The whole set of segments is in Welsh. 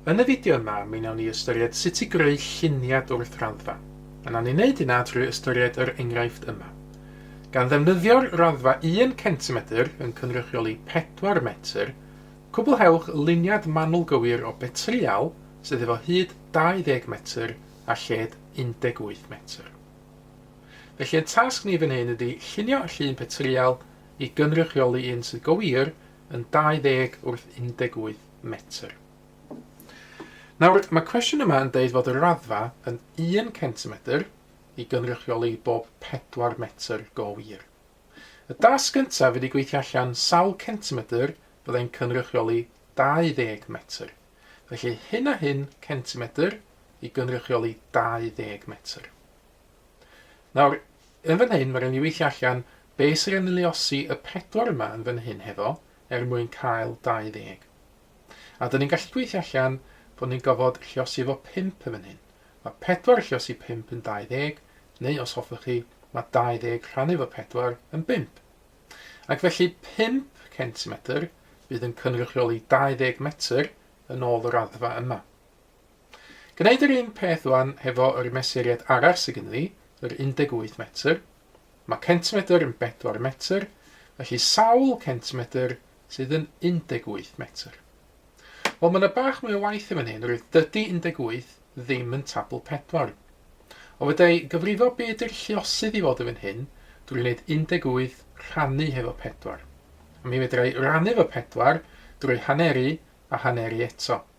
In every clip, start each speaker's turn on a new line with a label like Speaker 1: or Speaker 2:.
Speaker 1: Yn y fideo yma, mi wnawn ni ystyried sut i greu lluniad wrth raddfa. A wnawn ni wneud hynna drwy ystyried yr enghraifft yma. Gan ddefnyddio'r raddfa 1 centimetr yn cynrychioli 4 metr, cwblhewch luniad manwl gywir o betrial sydd efo hyd 20 metr a lled 18 metr. Felly ein tasg ni fan hyn ydi llunio llun petrial i gynrychioli un sydd go wir yn 20 wrth 18 metr. Nawr, mae cwestiwn yma yn deud fod y raddfa yn 1 centimetr i gynrychioli bob 4 metr go wir. Y dasg gyntaf ydy gweithio allan sawl centimetr fyddai'n cynrychioli 20 metr. Felly hyn a hyn centimetr i gynrychioli 20 metr. Nawr, Yn fan hyn mae rhaid ni weithio allan be sy rhaid ni luosi y pedwar yma yn fan hyn hefo er mwyn cael 20. A dyn ni'n gallu gweithio allan bod ni'n gofod lliosi efo 5 yn fan hyn. Mae pedwar yn lliosi 5 yn 20, neu os hoffwch chi, mae 20 rhannu efo pedwar yn bump. Ac felly 5 centimetr fydd yn cynrychioli 20 metr yn ôl y raddfa yma. Gwneud yr un peth ŵan hefo yr mesuriad arall sy gynno fi, yr 18 metr. Mae centimedr yn bedwar metr, felly sawl centimedr sydd yn 18 metr? Wel, mae yna bach mwy o waith yn fan hyn, roedd dydy 18 ddim yn tabl pedwar. O fydau gyfrifo be ydy'r lluosydd i fod yn fan hyn drwy wneud 18 rhannu hefo pedwar. A mi fedrai rannu efo pedwar drwy haneru a haneru eto.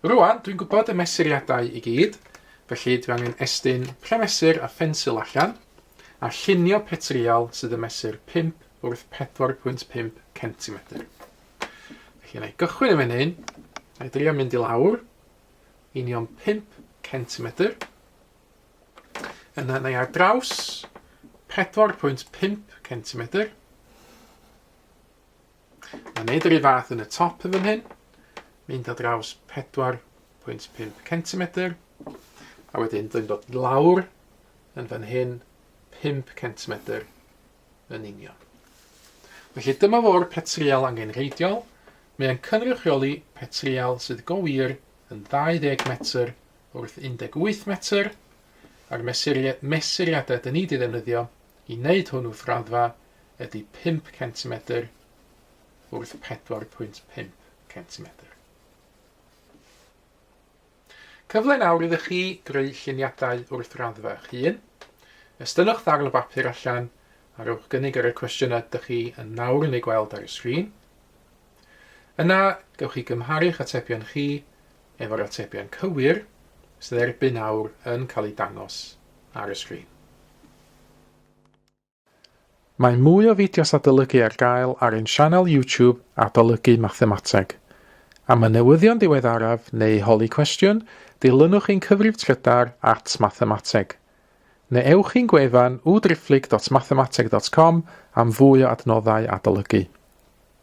Speaker 1: Rŵan, dwi'n gwybod y mesuriadau i gyd, felly dwi angen estyn premesur a phensil allan, a llunio petrial sydd yn mesur 5 wrth 4.5 centimetr. Felly yna i gychwyn yn fan hyn, a i drio mynd i lawr, union 5 centimetr. Yna yna i ar draws 4.5 centimetr. Mae'n neud yr un fath yn y top yn fan hyn. Mynd ar draws 4.5 cm. A wedyn dwi'n dod lawr yn fan hyn 5 cm yn union. Felly dyma fo'r petrial angenreidiol. Mae'n cynrychioli petrial sydd go wir yn 20 metr wrth 18 metr a'r mesuriadau dyn ni wedi ddefnyddio i wneud hwn wrth raddfa ydy pump centimetr wrth pedwar pwynt pump centimetr. Cyfle nawr iddo chi greu lluniadau wrth raddfa eich hun. Estynnwch ddarn o bapur allan a rhowch gynnig ar y cwestiynau ydych chi yn nawr yn ei gweld ar y sgrin. Yna, gewch chi gymharu'ch atebion chi efo'r atebion cywir sydd erbyn awr yn cael eu dangos ar y sgrin. Mae mwy o fideos adolygu ar gael ar ein sianel YouTube Adolygu Mathemateg. Am y newyddion diweddaraf neu holi cwestiwn, dilynwch ein cyfrif trydar at Mathemateg. Neu ewch i'n gwefan www.driphlyg.mathemateg.com am fwy o adnoddau adolygu.